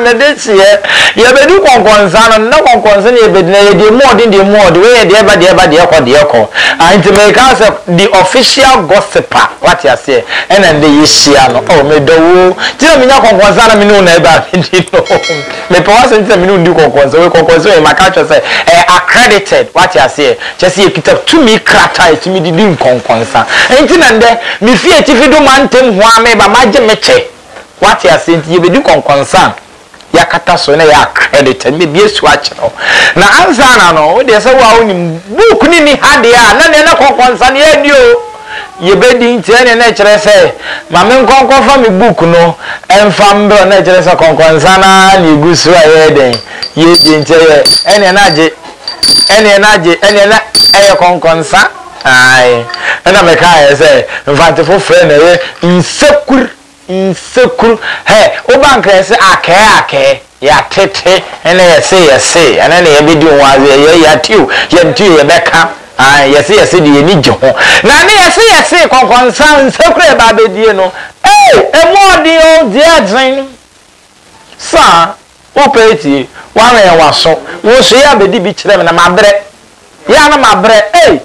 na de kyeɛ yɛbɛdu kɔnkɔnsa no na kɔnkɔnsa na yɛbɛdina yɛ deɛ mu ɔden deɛ mu ɔde weyɛ deɛ ba deɛ ba deɛ kɔ deɛ kɔ nti meka sɛ the official gossiper wate aseɛ ɛna de yɛhyia no ɔ oh, medɔ wo nti na menya kɔnkɔnsa na mene wo na ɛbaa medi no Mepɛ w'asɛm nti na me ne wo di nkɔnkɔnsɛm. Wei nkɔnkɔnsɛm ei, maka akyerɛ wo sɛ ɛyɛ accredited, woate aseɛ? Kyerɛ sɛ yɛkita tumi krataa a ɛtumi de di nkɔnkɔnsa. Enti na nnɛ, mefi atifi do mantam ho ara mereba, magye me kyɛ. Woate aseɛ? Nti yɛbɛdi nkɔnkɔnsa a, yɛakata so na ɛyɛ accredited. Mɛbi asu akyerɛ wo. Na ansa na no, wo deɛ sɛ wo a wonim, book no nni ha deɛ a, na neɛ na kɔnkɔnsa no yɛnni o. Yɛbɛdi nkyerɛ nea na ɛkyerɛ sɛ, Ma menkɔ nkɔfa me book no mfa mbrɛ wo, na ɛkyerɛ sɛ kɔnkɔnsa no ara na yɛgu so a yɛyɛ dɛn? Yɛredi nkyerɛ yɛ, ɛneɛ na agye, ɛneɛ na agye, ɛneɛ na ɛyɛ kɔnkɔnsa. Ae. Ɛna mekaeɛ sɛ, Mfantsefo frɛ no ɛyɛ nsakur. Nsekuro hɛ woba nka yɛse akɛɛ akɛɛ yɛate te ɛna yɛse yɛse ɛno na yɛbɛdi ho aze yɛ yɛate o yɛnte o yɛbɛka ae yɛse yɛse deɛ yɛni gye ho na ne yɛse yɛse kɔnkɔnsa nsekuro ɛba bɛdie no ei ɛmu ɔden o deɛ ɛdzen. Sa, Wopɛ etie? Wɔawɛn w'aso. Wo nso yɛ abɛdi bi kyerɛ me na mabrɛ. Yɛ a na mabrɛ ei!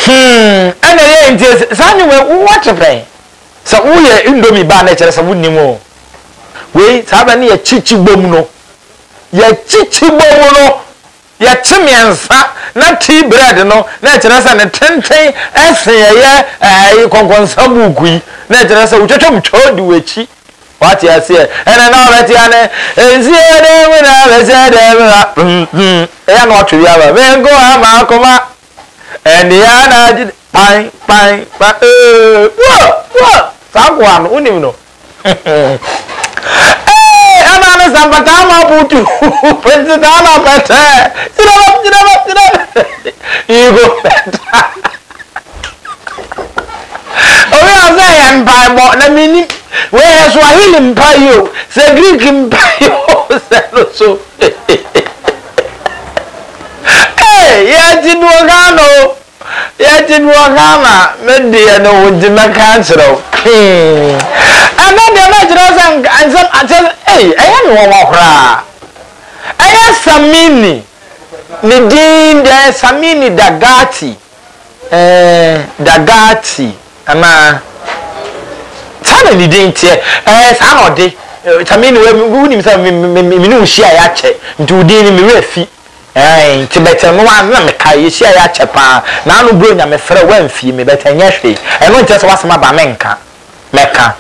Humm, ɛnna ɛyɛ nti sɛ saa nnwom yi wowɔ kyepɛn. Sɛ woyɛ indomie ba a na ɛkyerɛ sɛ wonnim o. Wei, saa bɛ no yɛ kyikyibom no. Yɛ kyikyibom no. Yɛkye mmiɛnsa na tea bread no na ɛkyerɛ sɛ ne tenten sen ɛyɛ ɛɛ kɔnkɔnsa buuku yi na ɛkyerɛ sɛ wotwatwa mu twaa odi w'akyi. Wate aseɛ? Ɛna na ɔbɛte ane nsuo dan mu na bɛhyɛ dan mu ha mm mm ɛyɛ na watwe bi ama me nko ara m'akoma ɛne yɛ na agye kpan kpan kpan ee woo woo saa nkoa no wonim no. Eeii ɛna ne sɛ mpataa ma butu nti saa na pɛtɛ gyina bɛ gyina bɛ gyina bɛ you go better obi a ɔsɛ yɛ mpaebɔ na mini wei yɛ swahili mpa yi o sɛ greek mpa yi o sɛ no so ee yɛ ti duo ghana o. Yɛte bi wɔ Ghana me deɛ no wo nti mɛka akyerɛ wo hmm ɛnɛ deɛ mɛkyerɛ sɛ nka nsɛm akyɛ ei ɛyɛ me wɔnwa koraa ɛyɛ Samini ne din deɛ ɛyɛ Samini Dagati eh Dagati anaa saa na ne din teɛ ɛɛ saa na ɔde Samini wɛ wonim sɛ me ne wo hyia yɛ akyɛ nti wo din no me werɛ fi Aane, nti bɛtɛ no ara na mekae, yɛhyiaeɛ akyɛ pa ara, na ano berɛ nya mefrɛɛ wo amfie me, bɛtɛ nyɛ hwee, ɛno nkyerɛ sɛ w'asɛm aba a menka, mɛka,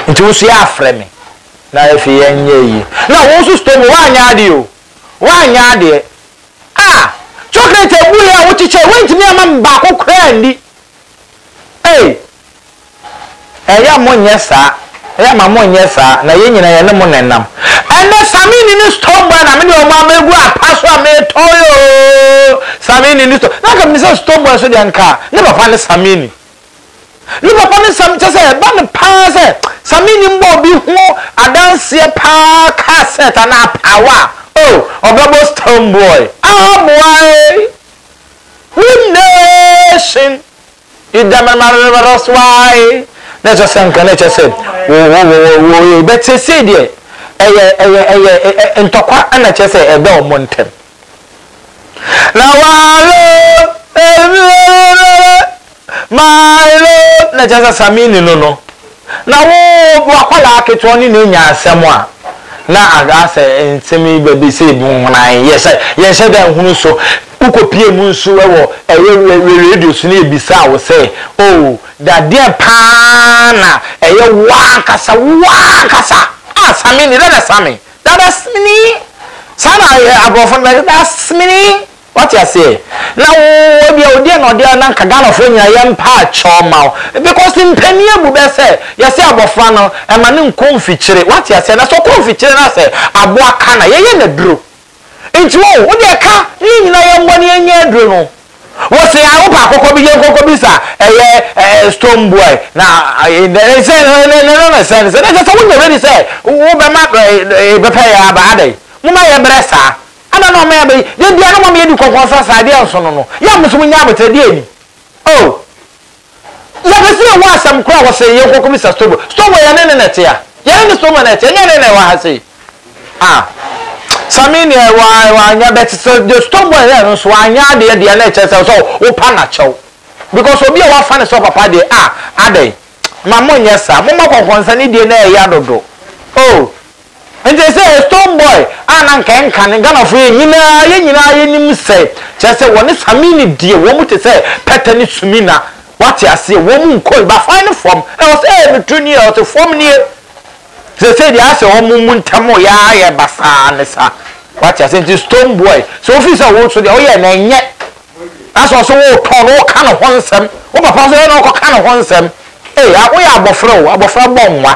nti wo nso yɛafrɛ me, na afei ɛnyɛ yie, na wo nso Stormy woanyɛ adeɛ o, woanyɛ adeɛ, ah, chocolate abuiɛ a wokyekyɛɛ woantumi amma me baako koraa anni, Ei! Ɛyɛ a monyɛ saa, ɛyɛ a ma monyɛ saa, na yɛn nyinaa yɛne mo na ɛnam. Ɛnnɛ, Samini ne Stonebwoy na mede wɔn abɛgu apa so a meretɔn yi oo! Samini ne Stone, na anka menim sɛ Stonebwoy nso deɛ anka ne papa ne Samini. Ne papa ne Samini, kyerɛ sɛ ɛba no pa ara sɛ Samini mmɔ obi ho adanseɛ pa ara car set anaa apaawa a, oh! ɔbɛbɔ Stonebwoy. Aa boa ei! Wo nation yi da ma ma ma ma so ara yi na ɛsɛ sɛ nka na ɛkyɛ sɛ wo wo wo wo wo yɛ but seesei deɛ ɛyɛ ɛyɛ ɛyɛ ɛ- ɛ- ɛ- ntɔkwa ɛna kyɛ sɛ ɛda wɔn ntɛm na walo Milo na kyerɛ sɛ Samini no no na wo wakwadaa ketewa ɔne no anya asɛm a na asɛ nsɛm yi ba bi sɛ ebi hunan yɛhyɛ yɛnhyɛ da nhunu so wokɔ pie mu nso wɔ ɛyɛ wɛ radio so ne ebisa wo sɛ o dadeɛ paa na ɛyɛ wankasa wankasa a Samini dada Sami dada Smini saa na aborɔfo no bɛ dada Smini Wate aseɛ? Na wo wɔ deɛ ɔdeɛ na ɔdeɛ na nka Ghanafoɔ nyinaa yɛ mpa akyɛw mma wo because mpanin abu bɛ sɛ yɛse abɔfra no ɛma no nkɔ mfikyire wate aseɛ na sɛ ɔkɔ mfikyire na sɛ aboa ka na yɛyɛ no aduro nti wo wo deɛ ka ne yɛn nyinaa yɛ mmɔ ne yɛn nyɛ aduro no wo se a wo pɛ akokɔ bi yɛn kɔkɔ bi sa ɛyɛ ɛɛ stone boy na ɛɛ ne ne sɛ ne ne ne ne sɛ ne sɛ ne sɛ sɛ wo nyɛ ready sɛ wo bɛ ma ɛɛ bɛpɛ yɛ aba adɛ mo ma yɛ brɛ saa. Adɛn na ɔma yɛba yi? Da biara na ɔma yɛdi kɔkɔɔ sɛ sɛ adeɛ nso no no, yɛ a mo nso mo nya abotire. Deɛ ni? Oh, yɛpɛ sɛ yɛhu asɛm korɔ a wɔse yɛn kɔ kɔbisa Stowbo. Stowbo, yɛne no na ɛte a? Yɛne ne Stowbo na ɛte, ɛnyɛ yɛne na ɛwɔ ha sei. Ah, Sammy deɛ wa, wanyɛ, but sɛ deɛ Stowbo ɛyɛɛ no nso anyɛ adeɛ deɛ na ɛkyerɛ sɛ sɛ wopa no akyɛw. Because obi a wafa no sɛ ɔpapa deɛ, ah, adɛn? Ma monyɛ saa. Momma kɔkɔɔ nsa ne die no ɛyɛ dodo. Oh. Nkyɛ sɛ yɛ stone boy a na nka ɛnka no. Ghanafoɔ yɛn nyinaa yɛn nyinaa yɛnim sɛ kyerɛ sɛ wɔne Samini deɛ wɔn te sɛ pɛtɛ ne sumina wate aseɛ wɔn nkɔn bafan no fam ɛwɔ sɛ ɛɛ meturo nie ɛwɔ sɛ fam nie seesei deɛ ayɛ sɛ wɔn mu ntam yɛ ara yɛ basaa ne sa wate aseɛ nti stone boy sɛ wofiri sɛ wo so deɛ woyɛ no ɛnyɛ na sɛ ɔso wotɔn no woka ne ho nsɛm wo papa nso yɛ na ɔkɔka ne ho nsɛm ee woyɛ abɔfra o abɔfra bɔ nwa.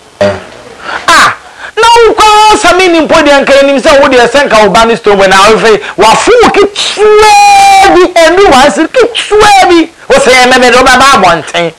Ah na wo koraa sa me ni mpo deɛ nka yɛnim sɛ wo deɛ sɛ nka wo ba ne stone boy na afei wafo wo ketewaa bi ɛndu one cedi ketewaa bi wo sɛ yɛ mɛmɛ deɛ wobɛba abɔnten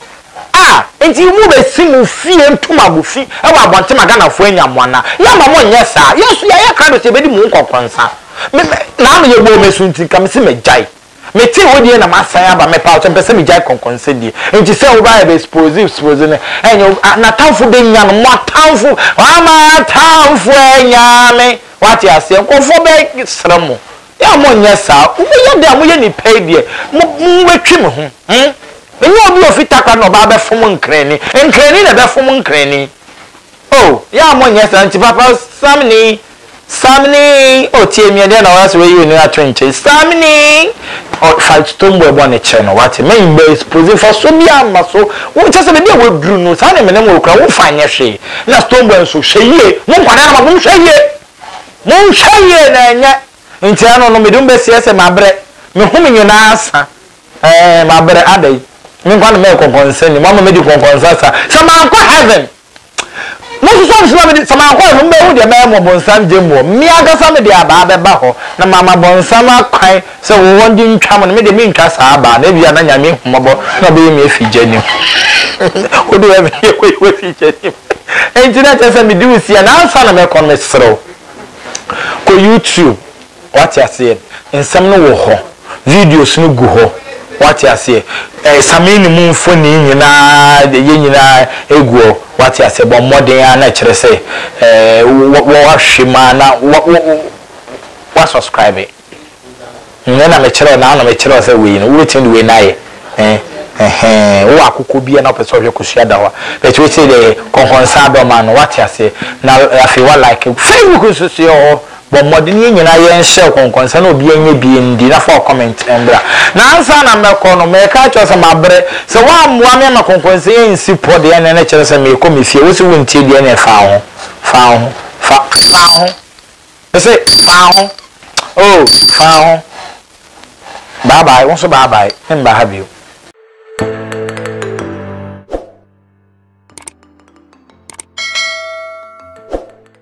ah nti mo bɛsi mo fie nto mo abufi ɛwɔ abɔnten ma Ghanafoɔ anya mo anaa yɛma mo nyɛ saa yɛso yɛayɛ krado sɛ yɛbɛdi mo nkɔkɔnsa me na ama yɛbɔ wɔn asu nti nka mese magyae Metee wo deɛ na masan aba mepawkyɛ mpɛ sɛ megyae kɔnkɔnsɛ die nti sɛ wo ba yɛ bɛ spoze spoze no ɛnyɛ wo a natamfo bɛ nya no moatamfo wama atamfo anya me wate aseɛ nkorɔfoɔ bɛ sra mo yɛ mo nyɛ saa wo mo yɛ dɛ a mo yɛ nipa yi deɛ mo mo bɛ twi me ho hmm me nyɛ obi ofi takra na ɔbaa bɛ fom nkrani nkrani na ɛbɛ fom nkrani. Oh yɛa mo nyɛ saa nti papa samini samini oh tie mi ɛdeɛ na ɔyɛ sɛ wɛyi onua to nkyɛn samini oh fa stoneboy bɔ ne kyerɛ no wate mɛ mɛ expose nfa so bi ama so wo kyɛ sɛ bɛbi a waduru no saa ne mene mo kura wo fa nyɛ hwee na stoneboy nso hwɛ yie mo nkwadaa no ma mo hwɛ yie mo hwɛ yie na ɛnyɛ nti ano no mede mo bɛ seɛ sɛ ma brɛ me ho me nyinaa sa ɛɛ ma brɛ adɛ me nkwa no mɛ kɔnkɔnsa ni mo ama me di kɔnkɔnsa sa sɛ ma nkɔ heaven. Mosusuw ade so ma me de, sɛ mankɔ a na mubehu deɛ mɛyɛ mo Ɔbonsam gyammuo. Me ankasa mede abaa bɛba hɔ, na mama Bonsam akwan sɛ wɔ wɔn de ntwa mo, na me deɛ mentwa saa abaa no, ebia na Nyame ahu mmɔbɔ na ɔbɛyi me afi gya no mu. Wodeɛ woyɛ me dea kɔyi wo afi gya no mu. Enti na kyerɛ sɛ mede wo si ha, na ansa na mɛkɔ no meserɛ wo, kɔ YouTube. Wate aseɛ? Nsɛm no wɔ hɔ. Videos no gu hɔ. Wate aseɛ? Ɛɛ, Samee no mu mfonin nyinaa, ɛyɛ nyinaa ɛgu hɔ. Wate aseɛ? Bɔ mmɔden ara na ɛkyerɛ sɛ, ɛɛ, wo, wo, woahwɛ mu ara na wo, wo, wo, woasɔskraibe. Nnɛ na mekyerɛ wo, na na mekyerɛ wo sɛ wei no, wobɛtumi de wei no ayɛ. Ɛɛ, ɛhɛɛ, wowɔ akokɔ bi a na wopɛ sɛ wohwɛ Kosua da hɔ a, but wei sei deɛ, kɔnkɔnsa adɔm ano. Wate aseɛ? Na afei woa like. Facebook nso so yɛwɔ hɔ. Bɔ mmɔden yɛn nyinaa yɛn share kɔnkɔnsa na obiara nyɛ bi ndi na fa wo comment mbra. Na ansa na mɛkɔ no mɛka akyerɛ wo sɛ mabrɛ, sɛ woammoa me ama kɔnkɔnsa yi ansi pɔ deɛ ɛneɛ na kyerɛ sɛ merekɔ me fie, wose wontie deɛ ɛneɛ fa wo ho, fa wo ho, fa, fa wo ho, mese fa wo ho, oh fa wo ho, bye bye, wo nso bye bye, memba ha bio.